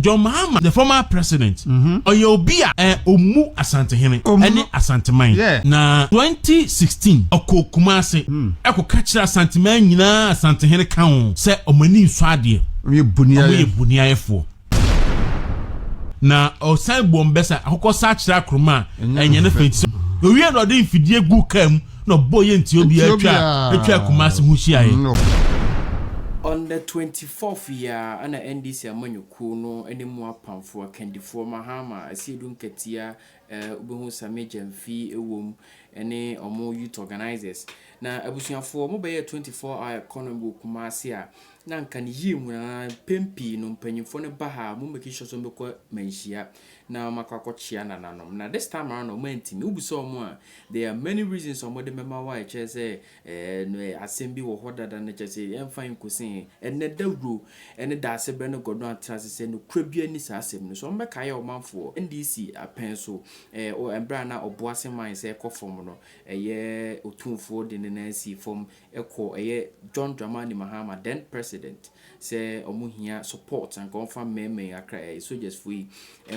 John Mahama, the former president, mm-hmm. ɔyɛ obi a eh, ɔmu asantehene ɛne asanteman na 2016 ɔkɔ kuma ase hmm. ɛkɔka kyerɛ asanteman nyinaa asantehene ka ho sɛ ɔmani nsɔ adeɛ ɔmo yɛ boniayɛfoɔ na ɔsan bɔ mbɛ sɛ akokɔ sa akyerɛ akorom a ɛnyɛ ne fɛ ti sɛ owie na ɔde mfidie gu kaa mu na ɔbɔ yɛ nti obiara atwa atwa kumase ho hyiaeɛ. On the twenty fourth yi ara ɛna NDC amanyɔkuo no ne mu apamfoɔ akandifoɔ Mahama, Asiedu Nketiah, eh, wobɛhu Sammy Gyamfi wom, ne wɔn youth organisers. Na abusuafoɔ, wɔbɛyɛɛ twenty four hour economy wɔ Kumase a Na anka ne yie hunu ara, mpɛn pii no mpanyimfoɔ no ba ha a, wɔn making sure sɛ wɔbɛkɔ manhyia na wɔakɔ akɔkyea nananom. Na this time around wɔantumi. Wobisa wɔn a, there are many reasons a wɔde bɛma wo a ɛkyerɛ sɛ ɛɛ asɛm bi wɔ hɔ dada na kyerɛ sɛ yɛmfa nkɔsi he. Ɛnnɛ dawuro ne Daasebrɛ ne Gɔdɔn atena ase sɛ nokorɛ biara nni saa asɛm no so. Wɔbɛkaeɛ ɔmanfoɔ, NDC apɛn so ɛɛ mberɛ a na Ɔboase mine sɛ ɛkɔ fam no, ɛyɛ Otumfoɔ de ne nan sii fam kɔ ɛyɛ John Dramani Mahama then president sɛ ɔmo hia support anka ɔnfa mmɛɛma yi akra ɛyɛ soldiers foɔ yi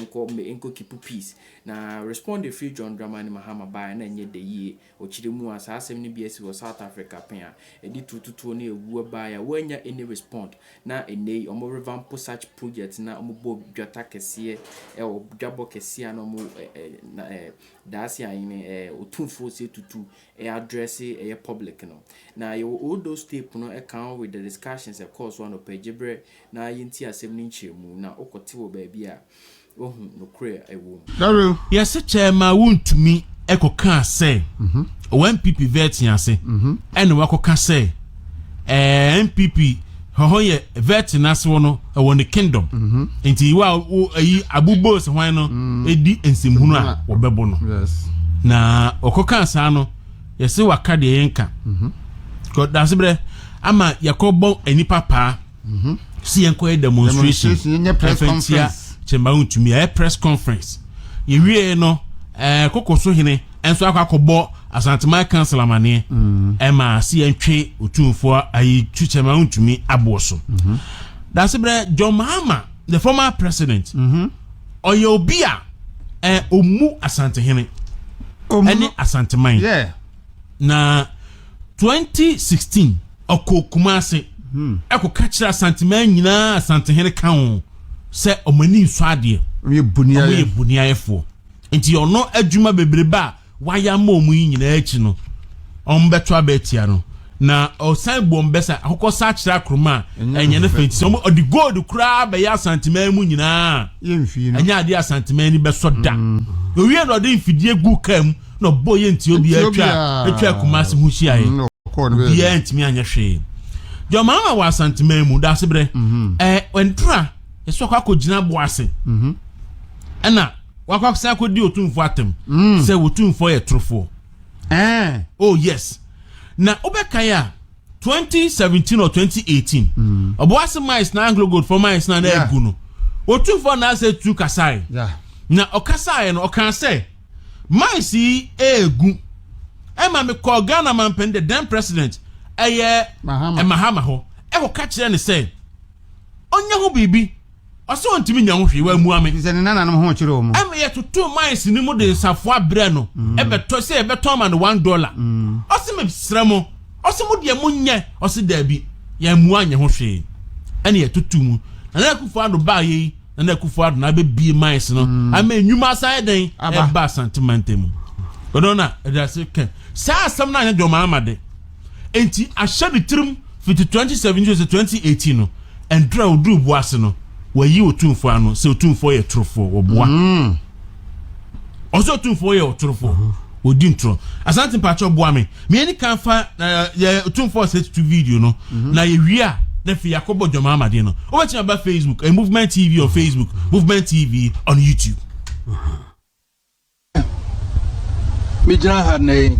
nkɔ mmɛ nkɔ keepu peace na respond firi John Dramani Mahama baeɛ a na ɛnyɛ dɛ yie ɔkyirɛ mu a saa asɛm no bi asi wɔ South Africa pɛn a ɛde turututuo ne awuo baeɛ a wɔannya any respond na ɛnnɛ yi ɔmo revampo such project na ɔmo bɔ dwata kɛseɛ ɛwɔ dwabɔ kɛseɛ a na ɔmo ɛɛ na ɛɛ Daase Ayene ɛɛ Otumfoɔ se tutu ɛyɛ adrɛse ɛyɛ public no. Na yɛwɔ all those tape no ɛka ho with the discussions ɛkɔɔ so anɔpa gyebrɛ na yɛntie asɛm no nkyerɛmu na wokɔ te wɔ baabi a wahu nokorɛ a ɛwɔ mu. Hello. Yɛse kyɛɛ maa wontumi kɔkaa sɛ ɔwɔ NPP vɛɛte ase ɛna wakɔka sɛ ɛɛ npp hɔhɔ yɛ vet n'asew no ɛwɔ ne kingdom mhm. nti wa wo ayi abubo sɛ hwan no mm. edi nsɛmhunu a wɔbɛbɔ no na ɔkɔka saa no yɛsɛ waka deɛ yɛnka mhm. kɔdasebrɛ ama yɛkɔbɔ nnipa paa Mhm. si yɛn kɔ yɛ demonstration ɛfɛ ntia kyɛnba ntumi ɛyɛ press conference yɛwie no ɛɛ koko so hene ɛnso akɔ akɔbɔ asanteman council amaneɛ mm. ɛma si yɛn twe otumfoɔ ayi tu kyɛnba ntumi aboɔ so mhm. dasebrɛ john mahama the former president mhm. ɔyɛ obi a ɛɛ ɔmu asantehene ɛne asanteman. Yeah. na 2016 ɔkɔɔ Kumase hmm. ɛkɔka kyerɛ Asanteman nyinaa Asantehene ka ho sɛ ɔmo ani nsɔ adeɛ ɔmo yɛ boniayɛfoɔ nti ɔno adwuma bebrebe a wayɛ ama ɔmo yi nyinaa akyi no ɔmo bɛto abɛɛtia no na ɔsan bu ɔmo bɛsa akokɔ sa akyerɛ akoroma a ɛnyɛ ne fɛ nti ɔmo ɔde gold koraa bɛyɛ Asanteman mu nyinaa ɛnyɛ adeɛ Asanteman ni bɛsɔ da hmm. owie na ɔde mfidie gu kaa mu na ɔbɔ yɛ nti obiara twa atwa kumase ho hyia yɛ mm, obiara ntumi anyɛ hwee deɛ ɔmaa ma wɔ asanteman mu daase berɛ ɛɛ ɛntura ɛsɛ ɔkɔ akɔ gyina bo ase mhm. ɛna wakɔ akɔsan akɔ di otumfoɔ atam mm. sɛ otumfoɔ yɛ torofoɔ ɛɛ oh yes na wobɛka yɛ a. 2017 or 2018 ɔboase mines na anglo gold for mines na na egu no otumfoɔ na asɛ tu kasae na ɔkasae no ɔkan sɛ. Mines yi ɛɛgu. Ɛma me kɔɔ Ghana mampanin the then president ɛyɛ Mahama hɔ ɛkɔ ka kyerɛ ne sɛ ɔnyɛ ho biribi ɔsɛ ɔntumi nya ho hwee wɔamua me sɛ ne nananom ho kyerɛ ɔmo ɛma yɛtoto mines no mu de nsafoa berɛ no mm. ɛbɛtɔ sɛ yɛbɛtɔn ma no one dollar mm. ɔse mesrɛ mo ɔse mo deɛ monyɛ ɔse daabi yɛamua nyɛ ho hwee ɛne yɛtoto mu nana akufo ado baayɛ yi na na akufo ado na abɛbie mines no mm. ama nnwuma asan yɛ dɛn ɛba asante mantam mu ɔno na ɛde ase kɛ saa asɛm no anyɛ dɔm ama de nti ahyɛ ne tirim fiti 2017 sɛ 2018 no ɛndura oduru bo ase no wɔyi otumfoɔ ano sɛ otumfoɔ yɛ torofoɔ wɔboa mm. ɔsɛ otumfoɔ yɛ ɔtorofo odi ntorɔ asante mpakyɛ ɔboa me meyɛ ne kan fa eh, yɛ otumfoɔ sɛ tutu video no mhm. na yɛwie a na afei yɛakɔbɔ dwama amadeɛ no wobɛtumi aba facebook eh, movement tv on facebook movement tv on youtube megyina ha nnɛ yi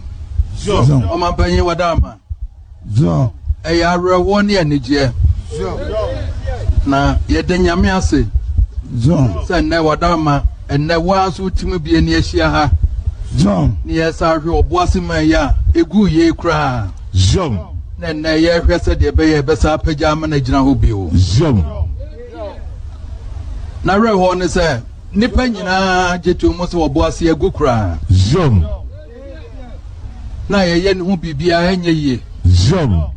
ɔmampanyin wada ama Zion. Ɛyɛ awerɛhoɔ ne anigyeɛ. Zion. Na yɛda Nyame ase. Zion. Sɛ nnɛ wada ama ɛnnɛ woa nso wotumi bie ne ahyia ha. Zion. Ne yɛsa ahwɛ ɔboase ma yɛ a ɛguu yei koraa. Zion. Na ɛnnɛ yɛhwɛ sɛdeɛ ɛbɛyɛ ɛbɛsa apagya ama no agyina hɔ bio. Zion. Na awerɛhoɔ ne sɛ nnipa nyinaa gye to mu sɛ ɔboase agu koraa. Zion. na yɛyɛ ne ho biribiara ɛnyɛ yie. Zion.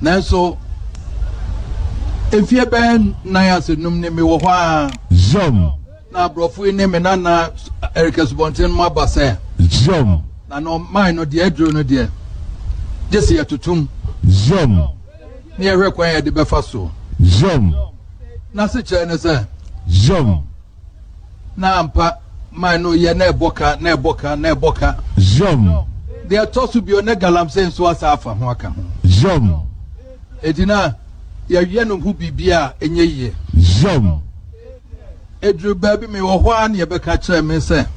Nanso mfie bɛyɛ nnan ase num ne mewɔ hɔ ara. Zion. Na aborɔfo yi ne me nana Erika Subɔnten mu aba sɛ. Zion. Na na ɔman no deɛ aduro no deɛ gye sɛ yɛtotom. Zion. Ne yɛhwɛ kwan yɛde bɛfa so. Zion. N'asekyerɛ ne sɛ. Zion. Na ampa, mine no yɛ na ɛbɔ ka, na ɛbɔ ka, na ɛbɔ ka. Yom. Deɛ ɛtɔ so bio, na galamsey nso asa afa ho aka ho. Yom. Enti na yɛyɛ no ho biribi a ɛnyɛ yie. Yom. Ɛduru baabi mewɔ hɔ ara na yɛbɛka kyerɛɛ me sɛ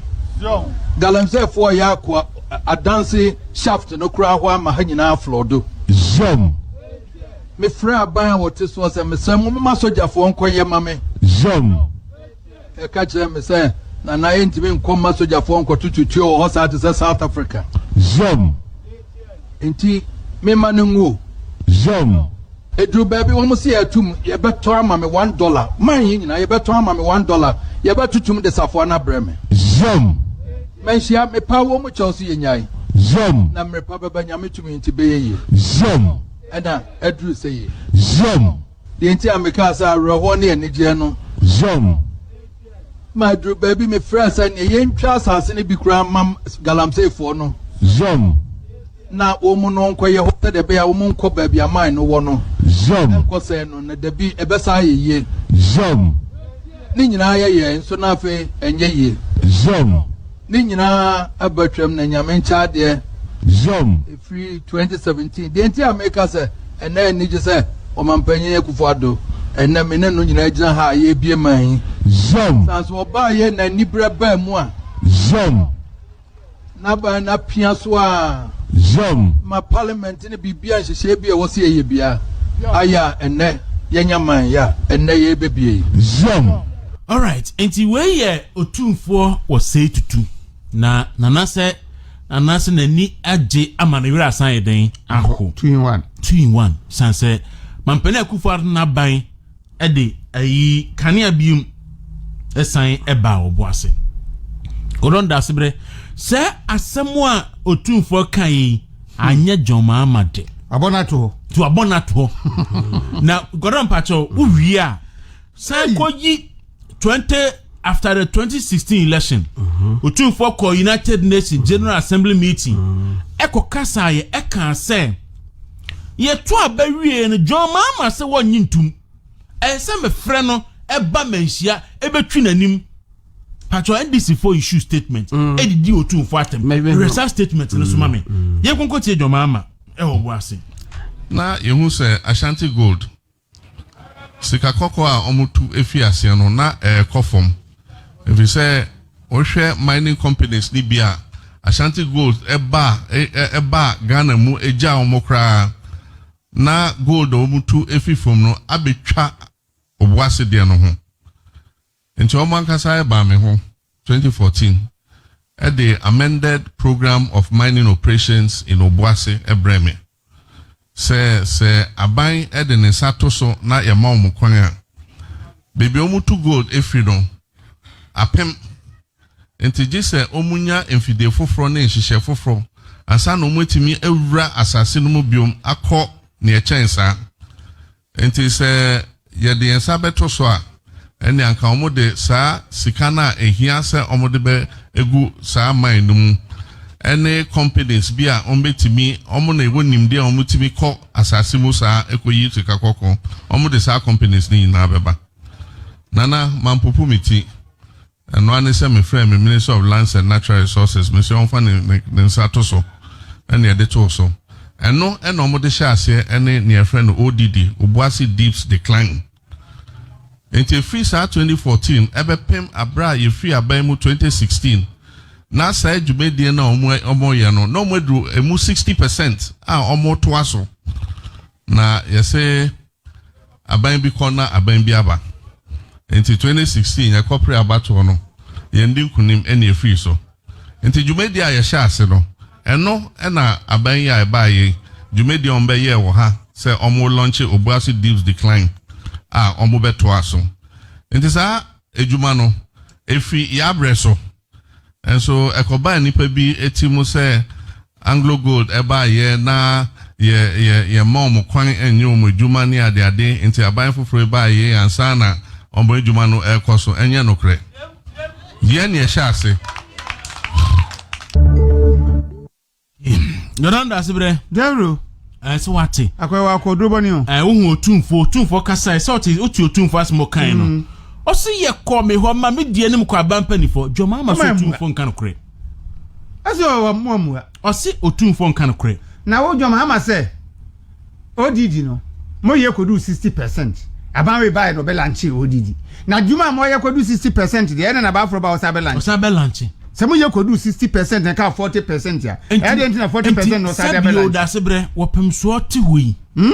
galamseyfoɔ yɛ akoa adanse shaft no koraa hɔ ama ha nyinaa aflɔdo. Yom. Mefrɛɛ aban a wɔte soɔ sɛ, Mesrɛ mo, momma sogyafoɔ nkɔyɛ ma me. Zom. Ɛka kyerɛɛ me sɛ, Nana, yɛntumi nkɔ mma sogyafoɔ nkɔto tutuo wɔ hɔ saa te sɛ South Africa. Zom. Enti memma no nguo. Zom. Ɛduru baabi wɔn se yɛatum, yɛbɛtɔ ama me one dollar. Man yi nyinaa, yɛbɛtɔ ama me one dollar. Yɛbɛtotom de safoa no abrɛ me. Zom. Manhyia, mepaa wɔn mu kyɛw so yɛnyae. Zom. Na mmerepa bɛba nyame tumi nti bɛyɛ yie. Zion. Ɛna aduru sɛ yie. Zion. Deɛ nti a mekaa sɛ awerɛhoɔ ne anigyeɛ no. Zion. Ma aduru baabi mefrɛ sɛ neɛ yɛntwa asase no bi koraa mam galamseefoɔ no. Zion. Na wɔn no nkɔyɛ hɔ sɛdeɛ ɛbɛyɛ a wɔn nkɔ baabi aman no wɔ no. Zion. Nkɔ sɛe no na dabi ɛbɛsan ayɛ yie. Zion. Ne nyinaa yɛ yɛn nso na afei ɛnyɛ yie. Zion. Ne nyinaa aba twam na Nyame nkyɛ adeɛ. Yom. Ɛfiri 2017. Deɛ nti a meka sɛ ɛnɛ anigye sɛ Ɔmampanyin Akufo Addo ɛnɛ me ne no nyinaa gyina ha a yɛrebie man yi. Yom. Sane sɛ ɔbaeɛ na aniberɛ baa mu a. Yom. N'aban no apia so ara. Yom. Ma Parliament. Sene biribiara nhyehyɛeɛ bi a ɛwɔ sɛ yɛyɛ biara ayɛ a ɛnnɛ yɛanya man yɛ a ɛnnɛ yɛrebɛbie yi. Zion. Alright nti wei yɛ otumfoɔ wɔ sei tutu na nana sɛ nana sɛ nani agye ama ne werɛ asan ayɛ dɛn aho two in one two in one san sɛ mampanin akufo ado n'aban ɛde ayi kanea bi mu ɛsan ɛbaa wɔn bo ase wɔn da asebrɛ sɛ asɛm a otumfoɔ ka yi anyɛ John Mahama de abɔ n'ato hɔ to abɔ n'ato hɔ na gɔdɔn mpakyɛw wowie a san kɔ yi. twenty after the twenty sixteen election otumfoɔ mm-hmm. kɔ united nations general assembly meeting ɛkɔ mm-hmm. kasa yɛ ɛka sɛ yɛto aba wie no john mahama sɛ wɔnye ntum ɛyɛ sɛ mefrɛ no ɛba manhyia ɛbɛtwi n'anim patro ndc fo issue statement ɛdidi mm. otumfoɔ atɛm resa statement no soma me mm. mm. yɛn kɔnkɔ tie john mahama ɛwɔ bo ase. na yɛhu sɛ ashanti gold Sika kɔkɔɔ a wɔtu fi aseɛ no, na ɛrekɔ fam. Ɛfiri sɛ, wohwɛ mining companies no bi a, Ashanti Gold ba a, ɛba a Ghana mu gya wɔn koraa. Na gold a wɔtu fi fam no abɛtwa Obuasi deɛ no ho. Enti wɔn ankasa baa me ho, twenty fourteen, de Amended Programme of Mining Operations in Obuasi brɛɛ me, sɛ sɛ aban de ne nsa to so na yɛma wɔn kwan a, baabi a wɔtu gold firi no, apem. Enti gye sɛ wɔnya mfidie foforɔ ne nhyehyɛɛ foforɔ ansa na wɔatumi awura asase no mu bio akɔ nea ɛkyɛn saa. Enti sɛ yɛde yɛn nsa bɛto so a, ɛnde anka wɔde saa sika no a ehia sɛ wɔde bɛgu saa mine no mu, ne companies bi a wɔbɛtumi, wɔn na wɔwɔ nimdeɛ a wɔtumi kɔ asase mu saa kɔyi sika kɔkɔɔ, wɔde saa companies no nyinaa bɛba. Nana, mampopo me ti. Ɛno ara ne sɛ mefrɛɛ me Minister of Lands and Natural Resources, me se ɔmfa ne ne nsa to so, ɛna yɛde too so. Ɛno ɛna wɔde hyɛɛ aseɛ ne nea yɛfrɛ no ODD, Obuasi Deeps Decline. Enti ɛfiri saa 2014 ɛbɛpem aberɛ a yɛfiri aban mu 2016, na saa dwumadie no a wɔn wɔyɛ no, na wɔaduru ɛmu 60 percent a wɔretoa so. Na yɛse. aban bi kɔ na aban bi aba. Enti 2016 yɛkɔperee abatoɔ no, yɛndi nkunim ɛna efiri so. Enti dwumadie a yɛhyɛɛ ase no, ɛno ɛna aban yi a ɛbaa yei dwumadie a wɔbɛyɛɛ wɔ ha sɛ wɔn lɔnkye Obuasi Deeps Decline a wɔbɛtoa so. Enti saa adwuma no, efiri yɛabrɛ so. Nso ɛkɔbaa nnipa bi ti mu sɛ Anglo Gold baeɛ na yɛ yɛ yɛmma wɔn kwan nyɛ wɔn adwuma ne adeade nti aban foforɔ yi baa yei ansa na wɔn adwuma no rekɔ so. Ɛnyɛ nokorɛ. Yɛn na yɛhyɛ ase. Jordan da ase brɛ. Gabriel. Ɛɛ eh, sɛ wate. Akɔyɛ wɔ akɔduro bɔ ne o. Ɛɛ eh, wohu otumfo otumfo kasa ɛsɛ ɔte ɔte otumfo asɛm ɔkan no. Mm. Ɔsi yɛ kɔ mi hɔ ma mi di anim kɔ aba mpanimfoɔ jɔnma ama so otumfo nka no korɛ. Ɛsɛ ɔwɔ mu amua. Ɔsi otumfo nka no korɛ. Na wo jɔnma ama sɛ. Odidi no, moyɛ kɔduu 60 percent. Aban wei baeɛ no, ɔbɛlanche odidi. Na adwuma a moyɛ kɔduu 60 percent deɛ, ɛna n'aban foro ba ɔsa bɛlanche. Ɔsa bɛlanche. Sɛ moyɛ kɔduu 60 percent na ɛka 40 percent a, ɛyɛ deɛ nti na 40 percent na ɔsa de bɛlanche. Nti, sɛ bio dase berɛ, wɔpemsoɔ te hɔ yi. Hmm?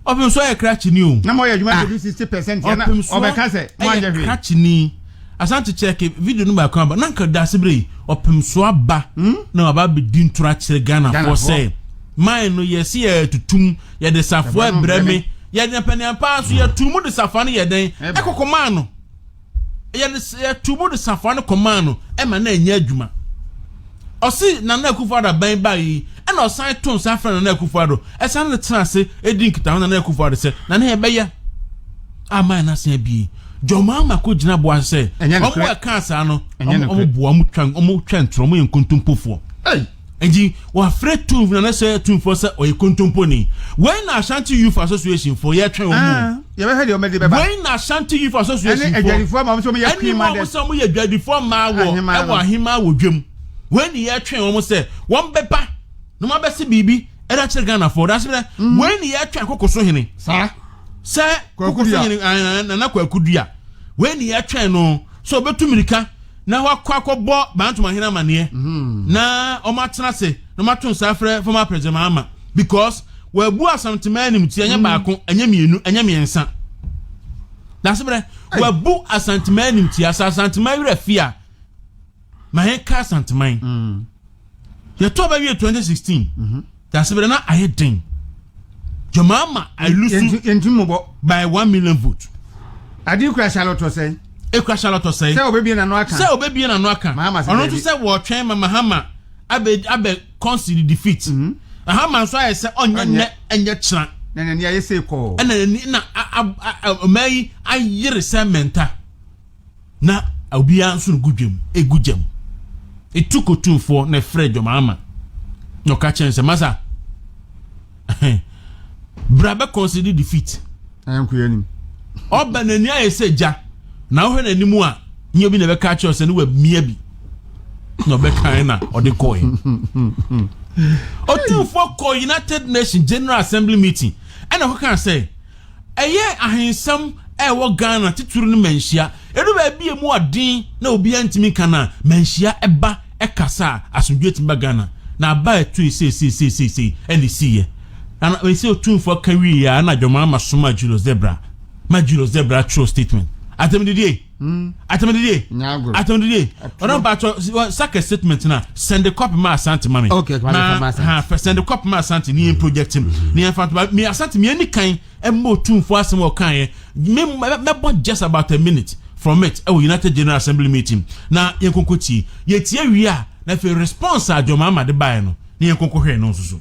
Ɔpemsoɔ yɛ krakyeni o. Na moyɛ adwuma ah. kɔduu 60 percent a, na ɔbɛka sɛ moanyɛ hwee. Ɔpemsoɔ yɛ krakyeni. Asante kyɛke video no baako aba na nka daase bere yi ɔpem so aba hmm? na waba abɛdi ntora akyerɛ Ghanafoɔ sɛ man no yɛsi yɛ tutum yɛde safoa brɛ me yɛde mpɛnea paa so yɛtu mu de safoa no yɛ dɛn ɛkɔkɔ maa no yɛde yɛtu mu de safoa no kɔ maa no ɛma na ɛnyɛ adwuma ɔsi nana akufo ado aban baa yi ɛna ɔsan to nsa afrɛ nana akufo ado ɛsan ne tena ase edi nkitaho nana akufo ado sɛ nana yɛbɛyɛ aman n'asen abie. Jɔmaa ma ko gyina boa sɛ ɔmo a ɛkaa saa no ɔmo boa ɔmo twa ɔmo twa ntorɔ ɔmo yɛ nkontompofoɔ. Nti wafrɛ Tunf na ne sɛ Tunfoɔ sɛ ɔyɛ kontomponi. Wei na Ashanti Youth Association foɔ yɛtwɛn wɔn mu. Ah, Yɛbɛhwɛ deɛ wɔde bɛba. Wei na Ashanti Youth Association foɔ. Ɛne adwadifoɔ ma wɔn sɛ wɔyɛ pii ma dɛ. Ɛne mu a wɔn sɛ wɔyɛ adwadifoɔ ma wɔ ɛwɔ ahemaa wɔ dwam. Wei na yɛtwɛn wɔn sɛ wɔn bɛba na wɔn abɛsi biribi ɛda kyerɛ Ghanafoɔ. Ɔdasebrɛ mm. wei na yɛtwɛn koko so hene. Saa. sɛ kɔkɔfo nyini eh, nana kwaku dua wei ne yɛtwɛn no sɛ ɔbɛtu mmirika na wakɔ akɔbɔ bantoma hene amaneɛ mhm. na ɔmo atena ase na ɔmo ato nsa afrɛ fama apɛsɛ maa ma because wabu asantema anim ti ɛnyɛ mhm. baako ɛnyɛ mmienu ɛnyɛ mmiɛnsa dasebrɛ wabu asantema anim ti asa asantema werɛ fia ma yɛ ka asanteman mm. yɛ tɔ bɛ wiye twenty sixteen mhm. yasebere na ayɛ den jɔnma ama ayilusu yɛntumubɔ by one million vote. adi kura salɔtɔ sɛn. ekura salɔtɔ sɛn. sɛ o bɛ bie na nɔ akan. sɛ o bɛ bie na nɔ akan. mahama sɛ bɛɛ bi ɔno tún sɛ wɔtwɛn ma mahama abɛ abɛ kɔnsiri defeat. Mm-hmm. mahama nso ayɛ sɛ ɔnyɛ nɛ ɛnyɛ kyerɛ. na nani ayɛ sɛ kɔɔ. ɛna nani na ɔmɛ yi ayere sɛ mɛnta. na obiara nso regu dwam egu gyam etu kotumfoɔ na ɛfrɛ dwom ama na ɔka kyɛn sɛ masa bra bɛ consider defeat ɔba n'ani ayɛ sɛ gya na wohwɛ n'anim a nyɛ bi na ɛbɛka akyerɛ sɛ ne wamia bi na ɔbɛkan na ɔde kɔɛ ɔtumfoɔ kɔ united nations general assembly meeting ɛna ɔkɔka sɛ Ɛyɛ ahensɛm a ɛwɔ Ghana titiri no manhyia. Ɛdu baabi a ɛmu ɔden na obiara ntumi nka no a, manhyia ba kasa a asomdwoeɛ tumi ba Ghana. Na aba a ɛtooe seiseiseiseisei na ɛsiiɛ. Na na ɛsɛ Otumfoɔ ka wieeɛ a na John Mahama somaa Julius Zebra ma Julius Zebra twerɛɛ statement. Asɛm didie! Hmm. atamididie nyagoro atamididie ɔdɔ mpatsɔ saka statement na send the copy ma asante ma mi okay ma ha fɛ send the copy ma asante ni yɛn project mu mm-hmm. ni yɛn fatuma mi asante mi yɛn ni kan ɛmu otumfo asɛm ɔkan yɛ mi mɛbɔ just about a minute from it ɛwɔ united general assembly meeting na yɛn koko tie yɛ tie wia na fɛ response a jɔn maama de baayɛ no ni yɛn koko hwɛ no nso so.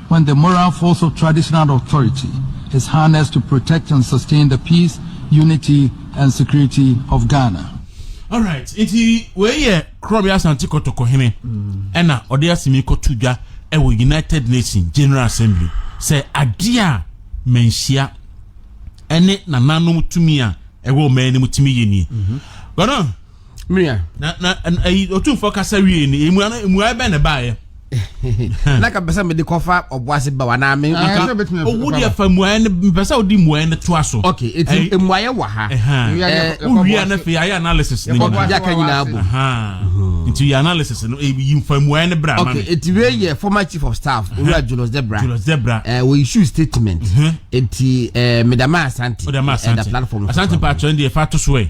When the moral force of traditional authority is harnessed to protect and sustain the peace, unity and security of Ghana. Alright, nti wei yɛ Korɔbea Asante Kɔtɔkɔ hene ɛna ɔde asɛm yi kɔto dwa ɛwɔ United Nations General Assembly sɛ adeɛ a manhyia ɛne nananom tumi a ɛwɔ ɔman no mu tumi yɛ nie. Ghana. Mìa. Na na ɛyi otumfoɔ kasa wie ni emu ano emu ayɛ bɛn na ɛbaayɛ. Na ka pɛsɛ mi de kɔfa ɔbo ase ba wa na mi. Nka owu deɛ fa muayɛ ne mpɛsɛ odi muayɛ ne to aso. Ok eti emuayɛ wɔ ha. Owia na fɛ yɛ analysis ni nyinaa. Yaka nyinaa bu. Nti yɛ analysis no eyi nfa muayɛ ne bra ma mi. Ok eti wei yɛ former chief of staff owura Julius Debra. Julius Debra. Ɛɛ wɔ issue statement. Eti ɛɛ Medama Asante. Medama Asante. Ɛda platform. Asante pa atwɛn deɛ fa to so ɛ.